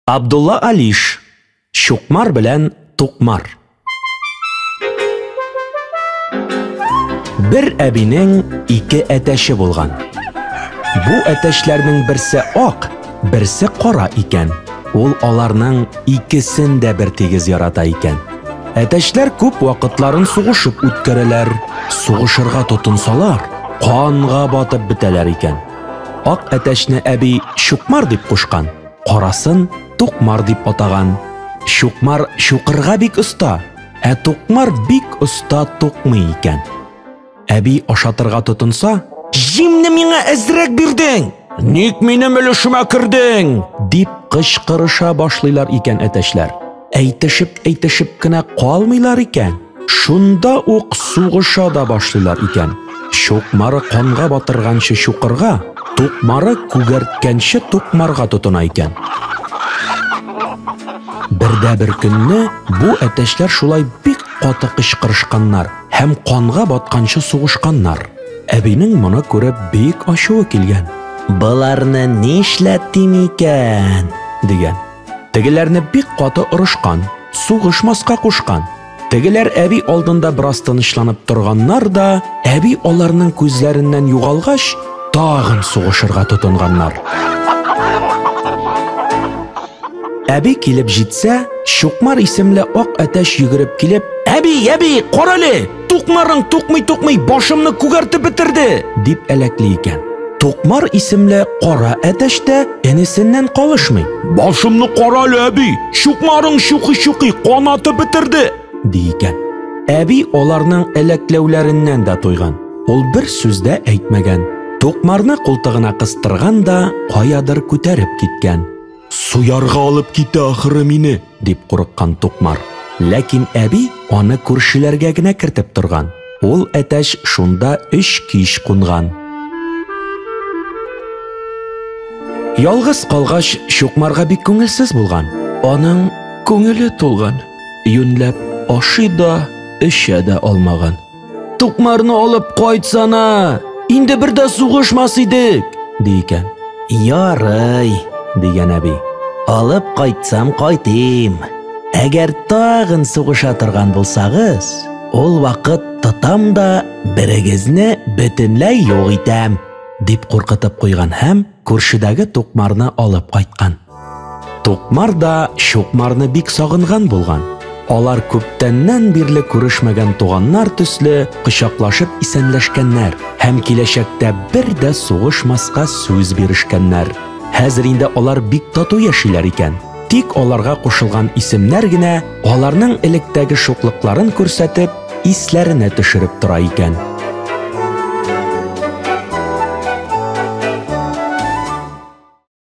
Абдулла Алиш, Чукмар белән Тукмар. Бер әбинең ике әтәше булган. Бу әтәшләрнең берсе ак, берсе кара икән. Ул аларның икесен дә бер тигез ярата икән. Әтәшләр күп вакытларын сугышып үткәрәләр. Сугышырга тотынсалар, канга батып бетәләр икән. Ак әтәшне әби Чукмар дип кушкан. Карасын Тукмар дип атаган. Чукмар чукырга бик оста, ә Тукмар бик оста тукмый икән. Әби ашатырга тотынса, "Җимне миңа әзрәк бирдең! Ник минем өлешемә кердең?" дип кычкырыша башлыйлар икән әтәчләр. Әйтешеп-әйтешеп кенә калмыйлар икән. Шунда ук сугыша да башлыйлар икән. Чукмары канга батырганчы чукырга, тукмары күгәрткәнче тукмарга тотына икән. Бердә бер көнне бу әтәчләр шулай бик каты кычкырышканнар һәм канга батканчы сугышканнар. Әбинең моны күреп бик ачуы килгән. Боларны нишләтим икән? дигән. Тегеләрне бик каты орышкан, сугышмаска кушкан. Тегеләр әби алдында бераз тынычланып торганнар да, әби аларның күзләреннән югалгач, тагын сугышырга тотынганнар. Әби килеп җитсә, Чукмар исемле ак әтәч йөгереп килеп, "Әби, әби, карале!" Тукмарың тукмый-тукмый башымны күгәртеп бетерде, дип әләкли икән. Тукмар исемле кара әтәч тә энесеннән калышмый. Башымны кара әле, әби, чукмарың чукый-чукый канатып бетерде, ди икән. Әби аларның әләкләүләреннән дә туйган. Ул бер сүз дә әйтмәгән. Тукмарны култыгына кыстырган да каядыр күтәреп киткән. Суярга алып китә ахыры мине, дип курыккан Тукмар. Ләкин әби аны күршеләргә генә кертеп торган. Ул әтәч шунда өч кич кунган. Ялгыз калгач, Чукмарга бик күңелсез булган. Аның күңеле тулган. Юньләп ашый да, эчә дә алмаган. Тукмарны алып кайтсана. Инде бер дә сугышмас идек, ди икән. Ярый, дигән әби. Алып кайтсам кайтыйм. Әгәр тагын сугыша торган булсагыз, ул вакыт тотам да берегезне бөтенләй юк итәм, дип куркытып куйган һәм күршедәге тукмарны алып кайткан. Тукмар да Чукмарны бик сагынган булган. Алар күптәннән бирле күрешмәгән туганнар төсле кочаклашып исәнләшкәннәр һәм киләчәктә бер дә сугышмаска сүз бирешкәннәр. Хәзер инде алар бик тату яшиләр икән. Тик аларга кушылган исемнәр генә аларның электәге шуклыкларын күрсәтеп, исләренә төшереп тора икән.